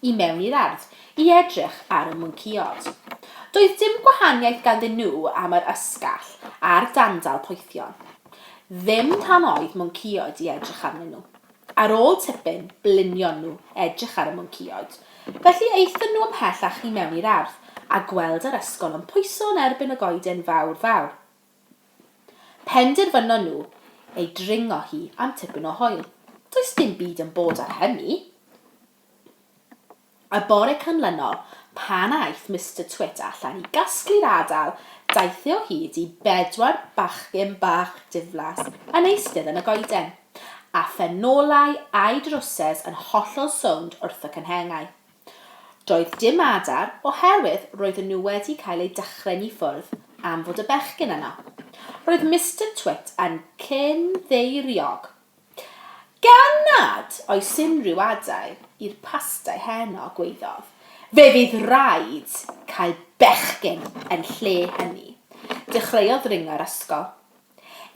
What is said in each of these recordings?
i mewn i'r ardd i edrych ar y mwnceod. Doedd dim gwahaniaeth ganddyn nhw am yr ysgall a'r dandal poethion. Ddim rhan oedd mwnceod i edrych arnyn nhw. Ar ôl tipyn, blinion nhw edrych ar y mwnceod. Felly aethon nhw ymhellach i mewn i'r ardd, a gweld yr ysgol yn pwyso yn erbyn y goeden fawr fawr. Penderfynon nhw ei dringo hi am tipyn o hoyl. Does dim byd yn bod ar hynny. Y bore canlynol, pan aeth Mister Twit allan i gasglu'r adal, daeth e o hyd i bedwar bachgen bach diflas yn eistedd yn y goeden, a phenolau a'u drwsys yn hollol sownd wrth y cynhenghau. Doedd dim adar, oherwydd roedden nhw wedi cael eu dychryn i ffwrdd am fod y bechgyn yno. Roedd Mister Twit yn cyn-ddeiriog. Gan nad oes unrhyw adael i'r pastau heno, gwaeddodd, fe fydd raid cael bechgyn yn lle hynny. Dechreuodd ringo i'r ysgol.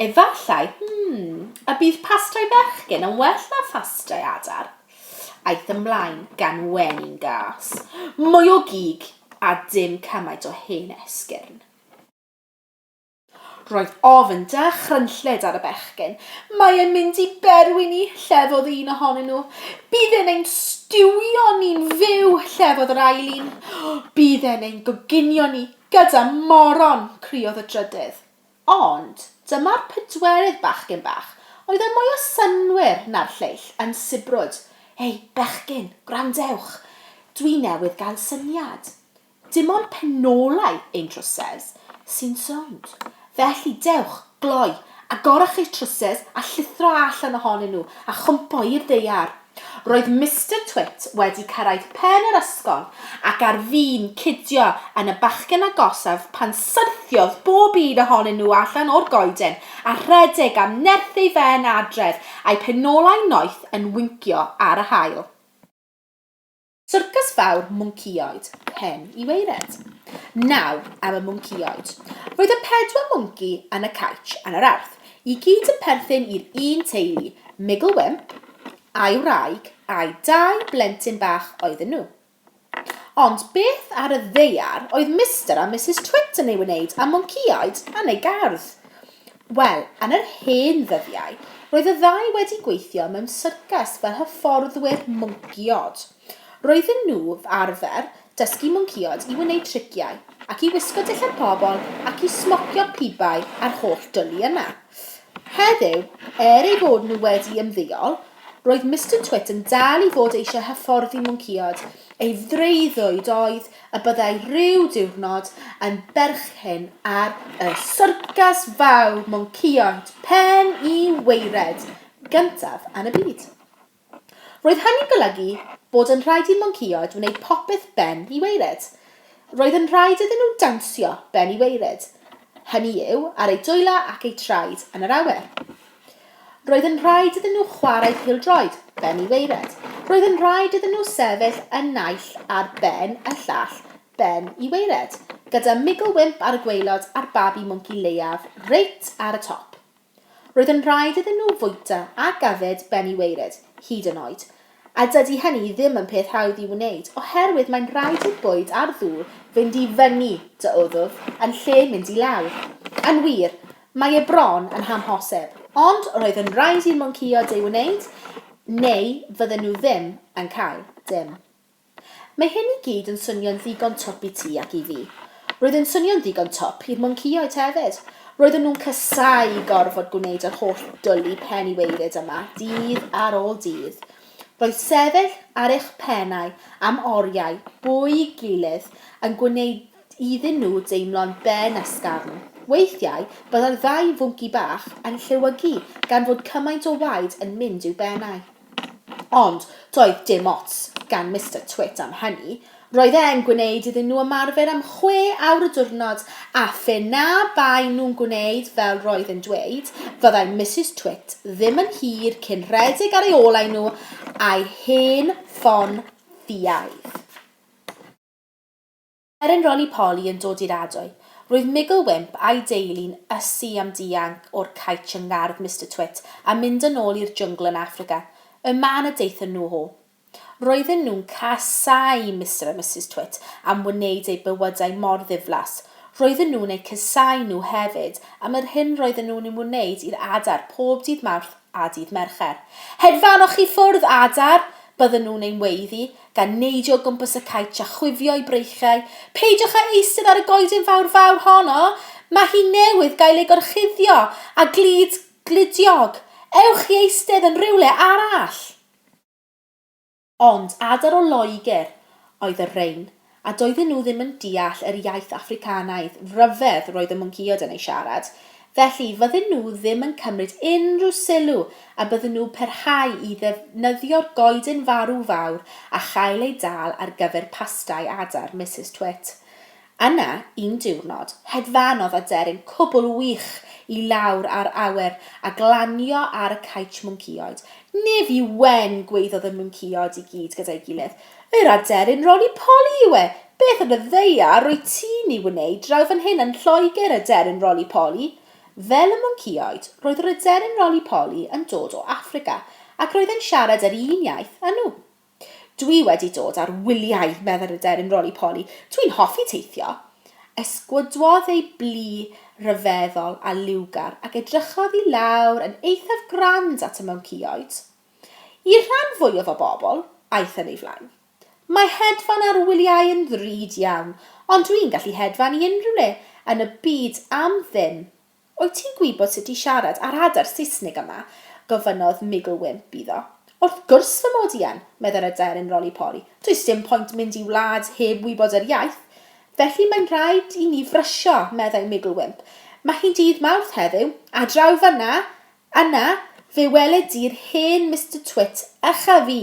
Efallai, hmm, y bydd pastau bechgyn yn well na phastau adar. Aeth ymlaen gan wenu gas. Mwy o gig a dim cymaint o hen esgyrn. Roedd ofn da chrynchlyd ar y bechgyn. Mae e'n mynd i berwi ni, llefodd un ohonyn nhw. Bydd e'n ein stiwio ni'n fyw, llefodd yr ail un. Bydd e'n ein goginio ni gyda moron, criodd y drydydd. Ond dyma'r pedwerydd bachgyn bach oedd yn mwy o synnwyr na'r lleill yn sibrwd, Ei, bechgyn, gwrandewch! Dwi newydd gael syniad. Dim ond penolau ein trwsys sy'n sownd, felly dewch, gloi, agorwch eich trwsys a llithro allan ohonyn nhw a chwmpo i'r ddaear. Roedd Mister Twit wedi cyrraedd pen yr ysgol ac ar fin cidio yn y bachgen agosaf pan syrthiodd bob un ohonyn nhw allan o'r goeden a rhedeg am nerth ei ben adref, a'u penolau noeth yn wincio ar yr haul. Syrcas fawr mwncïoed, pen i waered. Nawr am y mwncïoed. Roedd y pedwar mwnci yn y caetsh yn yr Arth, i gyd yn perthyn i'r un teulu, Migl Wymp, a'i wraig, a'u dau blentyn bach oedden nhw. Ond beth ar y ddaear oedd Mister a Misus Twit yn ei wneud â mwncïoed yn eu gardd? Wel, yn yr hen ddyddiau, roedd y ddau wedi gweithio mewn syrcas fel hyfforddwyr mwncïod. Roedden nhw arfer dysgu mwncïod i wneud triciau, ac i wisgo dillad pobl ac i smocio pibau a'r holl dwli yna. Heddiw, er eu bod nhw wedi ymddeol, roedd Mister Twit yn dal i fod eisiau hyfforddi mwncïod, ei freuddwyd oedd y byddai rhyw diwrnod yn berchen ar y syrcas fawr mwnceïon pen i waered gyntaf yn y byd. Roedd hynny'n golygu bod yn rhaid i mwnceïod wneud popeth ben i waered. Roedd yn rhaid iddyn nhw dawnsio ben i waered, hynny yw, ar eu dwylau ac eu traed yn yr awyr. Roedd yn rhaid iddyn nhw chwarae pêl-droed, Ben y Waered. Roedd yn rhaid iddyn nhw sefyll yn naill ar ben y llall, Ben y Waered, gyda Migl Wymp ar y gwaelod a'r babi mwnci leiaf reit ar y top. Roedd yn rhaid iddyn nhw fwyta a gadded Ben y Waered, hyd yn oed. A dydy hynny ddim yn peth hawdd i'w wneud, oherwydd mae'n rhaid i'r bwyd a'r ddŵr fynd i fyny dy wddf yn lle mynd i lawr. Yn wir, mae e bron yn hamhosib. Ond roedd yn rhaid i'r mwnceîod ei wneud, neu fydden nhw ddim yn cael dim. Mae hyn i gyd yn swnio'n ddigon twp i ti ac i fi. Roedd yn swnio'n ddigon twp i'r mwncaeaid te efyd. Roedden nhw'n casáu gorfod gwneud yr holl dwli pen i weiryd yma, dydd ar ôl dydd. Roedd sefyll ar eich pennau am oriau bwy i gilydd yn gwneud iddyn nhw deimlo'n ben ysgafn. Weithiau, byddai'r ddau fwnci bach yn llewygu gan fod cymaint o waed yn mynd i'w bennau. Ond doedd dim ots gan Mister Twit am hynny, roedd e'n gwneud iddyn nhw ymarfer am chwe awr y diwrnod, a phe na baen nhw'n gwneud fel roedd e'n dweud, fyddai Misus Twit ddim yn hir cyn rhedeg ar ei olau nhw a'i hen ffon ffiaidd. Er yn Roly-Poly yn dod i'r Adoe, roedd Migl Wymp a'i deulu'n ysu am dianc o'r caetsh yng ngardd Mister Twit a mynd yn ôl i'r jwngl yn Affrica, y man y daethon nhw o. Roedden nhw'n casáu Mister a Misus Twit am wneud eu bywydau mor ddiflas. Roedden nhw'n eu casáu nhw hefyd am yr hyn roedden nhw'n ei wneud i'r adar pob dydd Mawrth a dydd Mercher. Hedfanoch chi ffwrdd adar, bydden nhw'n ein weiddi, gan neidio o gwmpas y cait a chwifio'u breichiau, Peidiwch â eistedd ar y goeden fawr fawr honno! Mae hi newydd gael ei gorchuddio â glud gludiog! Ewch i eistedd yn rhywle arall! Ond adar o Loegr oedd y rhein, a doedden nhw ddim yn deall yr iaith Affricanaidd ryfedd roedd y mwncïod yn ei siarad, felly fydden nhw ddim yn cymryd unrhyw sylw a bydden nhw perhau i ddefnyddio'r goeden farw fawr a chael ei dal ar gyfer pastai adar Misus Twit. Yna, un diwrnod, hedfanodd aderyn cwbl wych i lawr ar awyr a glanio ar y caetsh mwncïoed. Nef yw wen! gwaeddodd y mwncïoed i gyd gyda'i gilydd. Yr aderyn roli poli yw e! Beth yn y ddaear rwyt ti'n ei wneud draw fan hyn yn Lloegr, aderyn roli poli? Fel y mwncïoed, roedd yr aderyn roli poli yn dod o Affrica, ac roedd e'n siarad yr un iaith â nhw. Dwi wedi dod ar wyliau, meddai'r aderyn roli-poli. Dwi'n hoffi teithio. Esgwydwodd ei blu ryfeddol a liwgar ac edrychodd i lawr yn eithaf grand at y mouncïoed. I'r rhan fwyaf o bobl, aeth yn ei flaen. Mae hedfan ar wyliau yn ddrud iawn, ond dwi'n gallu hedfan i unrhyw le yn y byd am ddim. Wyt ti'n gwybod sut i siarad ar adar Saesnig yma? gofynnodd Migl Wymp iddo. Wrth gwrs fy mod i yn, meddai'r aderyn Roly-Poly. Does dim point mynd i wlad heb wybod yr iaith. Felly mae'n rhaid i ni frysio, meddai Migl Wymp. Mae hi'n dydd Mawrth heddiw, a draw fan'na, Yna, fe weled di'r hen Mister Twit ucha fi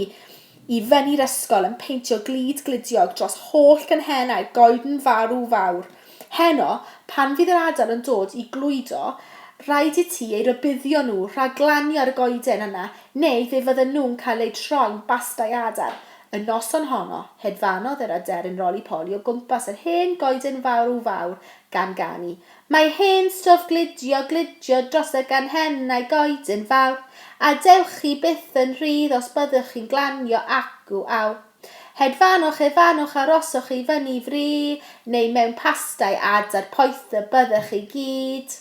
i fyny'r ysgol yn peintio glud gludiog dros holl gynhenau goeden farw fawr. Heno, pan fydd yr adar yn dod i glwydo, rhaid i ti eu rhybuddio nhw rhag glanio ar y goeden yna neu fe fydden nhw'n cael eu troi'n bastai adar. Y noson honno, hedfanodd yr aderyn roli-poli o gwmpas yr hen goeden farw fawr gan ganu, Mae hen stwff glidio glidio dros y ganghennau goeden fawr, a dewch chi byth yn rhydd os byddwch chi'n glanio acw aw. Hedfanwch, hedfanwch, aroswch i fyny fry, neu mewn pastai adar poethaf byddwch chi gyd.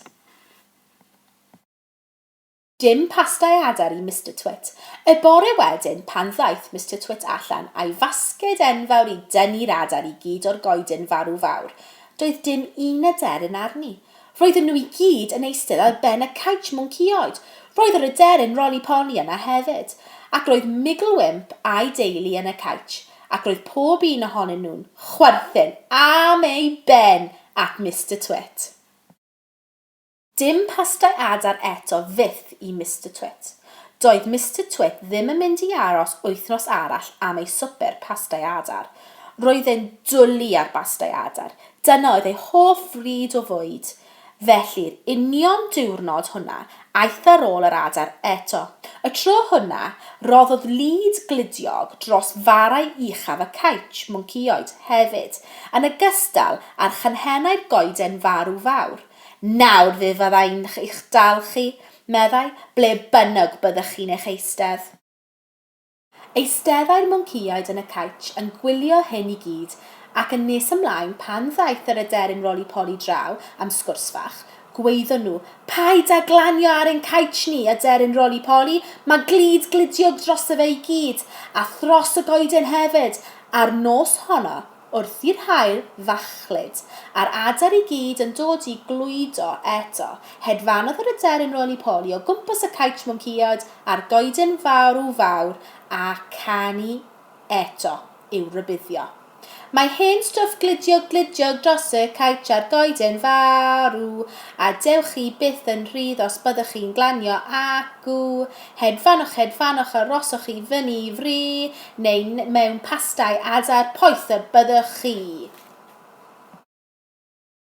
Dim pasta i adar i Mister Twit. Y bore wedyn, pan ddaeth Mister Twit allan a'i fasged enfawr i dynnu'r adar i gyd o'r goeden farw fawr, doedd dim un aderyn arni. Roedden nhw i gyd yn eistedd ar ben y caets mwncïoed. Roedd yr aderyn Roly-Poly yna hefyd. Ac roedd Migl Wymp a'i deulu yn y caets, ac roedd pob un ohonyn nhw'n chwerthin am ei ben at Mister Twit. Dim pastau adar eto fyth i Mister Twit. Doedd Mister Twit ddim yn mynd i aros wythnos arall am ei swper pastau adar. Roedd e'n dwli ar bastau adar, dyna oedd ei hoff fryd o fwyd. Felly'r union diwrnod hwnna, aeth ar ôl yr adar eto. Y tro hwnna, roddodd lid gludiog dros farau uchaf y caetsh, mwnceoid, hefyd, yn ogystal â'r chanhennau'r goeden farw fawr. Nawr fe fydda i'n eich dal chi, meddai, ble bynnag byddech chi'n eich eistedd. Eisteddai'r mwnceaid yn y caetsh yn gwylio hyn i gyd, ac yn nes ymlaen, pan ddaeth yr aderyn Roly-Poly draw am sgwrs fach, gwaeddon nhw, Paid â glanio ar ein caetsh ni, aderyn Roly-Poly, mae glud gludiog drosto fe i gyd, a thros y goeden hefyd! A'r nos honno, wrth i'r haul fachlud, a'r adar i gyd yn dod i glwydo eto, hedfanodd yr aderyn roli-poli o gwmpas y caets mwncïod a'r goeden fawr w fawr a canu eto i'w rybuddio. Mae hen stwff glidiog glidiog dros y caets a'r goeden fawr w, a dewch chi byth yn rhydd os byddwch chi'n glanio ac w, hedfanoch hedfanoch arosoch chi fyny i fri, Neu mewn pastai adar poeth y byddwch chi!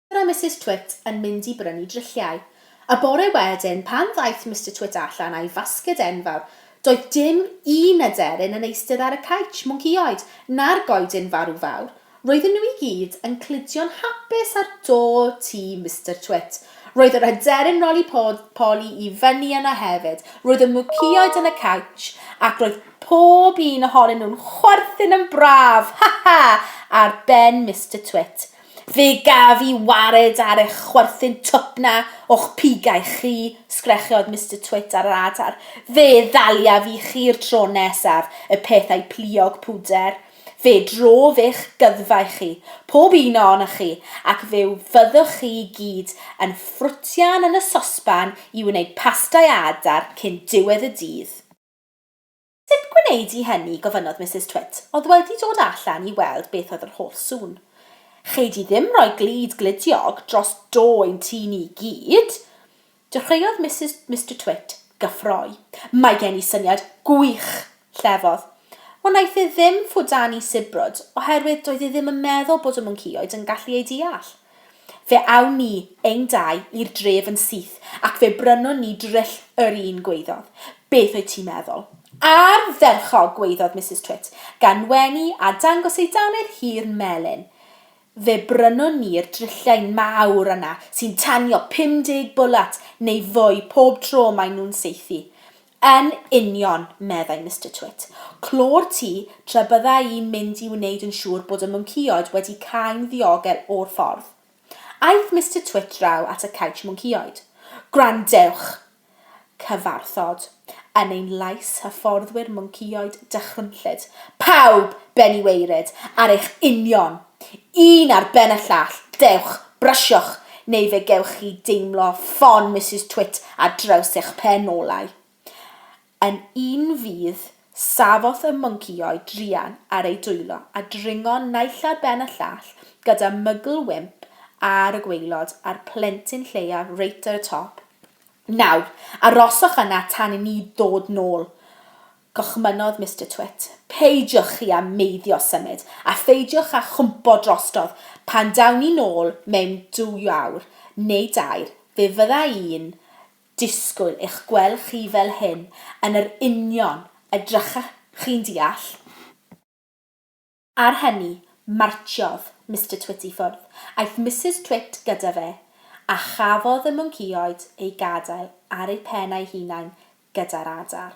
Mister a Misus Twit yn mynd i brynu drilliau. Y bore wedyn, pan ddaeth Mister Twit allan â'i fasged enfawr, doedd dim un aderyn yn eistedd ar y caets, mwncïoed, na'r goedyn farw fawr, Roedden nhw i gyd yn cludio'n hapus ar do tŷ Mister Twit. Roedd yr aderyn roli poli i fyny yna hefyd. Roedd y mwcïaid yn y cowch, ac roedd pob un ohonyn nhw'n chwerthin yn braf, Ha! Ha! ar ben Mister Twit. Fe gaf i wared ar eich chwerthin twp 'na o'ch pigau chi, sgrechiodd Mister Twit ar yr adar. Fe ddaliaf i chi i'r tro nesaf, y peth a'i pluog pwder. Fe drof eich gyddfa i chi, pob un o onoch chi, ac fe fyddwch chi i gyd yn ffrwtian yn y sosban i wneud pastau a adar cyn diwedd y dydd. Sut gwneud i hynny? gofynnodd Misus Twit. Oedd wedi dod allan i weld beth oedd yr holl sŵn. Chei di ddim rhoi glud gludiog dros do ein tŷ ni i gyd! Dechreuodd Misus, Mister Twit, gyffroi. Mae gen i syniad gwych! llefodd. Ond naeth e ddim ffwdanu sibrwd, oherwydd doedd e ddim yn meddwl bod y mwncaeoed yn gallu ei deall. Fe awn ni, ein dau, i'r dref yn syth, ac fe brynwn ni dryll yr un, gwaeddodd. Beth wyt ti'n meddwl? Ardderchog! gwaeddodd Misus Twit, gan wenu a dangos ei dannedd hir melyn. Fe brynwn ni'r drilliain mawr yna sy'n tanio 50 bwlat neu fwy pob tro maen nhw'n saethu. Yn union, meddai Mister Twit. Clo'r tŷ tra bydda i'n mynd i wneud yn siŵr bod y mwncaeoed wedi cau'n ddiogel o'r ffordd. Aeth Mister Twit draw at y caets mwncaeoed. Gwrandewch! Cyfarthod, yn ein lais hyfforddwyr mwncionid dychrynllyd, pawb, ben i waered, ar eich union! Un ar ben y llall, dewch, brysiwch, neu fe gewch chi deimlo ffon Misus Twit ar draws eich pen olau. Yn un fydd, safodd y mwnci-oed druan ar ei dwylo a dringo naill ar ben y llall gyda mygl wymp ar y gwaelod a'r plentyn lleiaf reit ar y top. Nawr, aroswch yna tan i ni ddod nôl, gochmynnodd Mister Twit. Peidiwch chi â meiddio symud, a pheidiwch â chwmpo drostodd. Pan dawn ni nôl mewn dwy awr, neu dair, fe fydda i'n disgwyl eich gwel chi fel hyn yn yr union y drycha chi'n deall? Ar hynny, martsiodd Mister Twit i ffwrdd. Aeth Misus Twit gyda fe, a chafodd y mwncïoed eu gadael ar eu pen eu hunain gyda'r adar.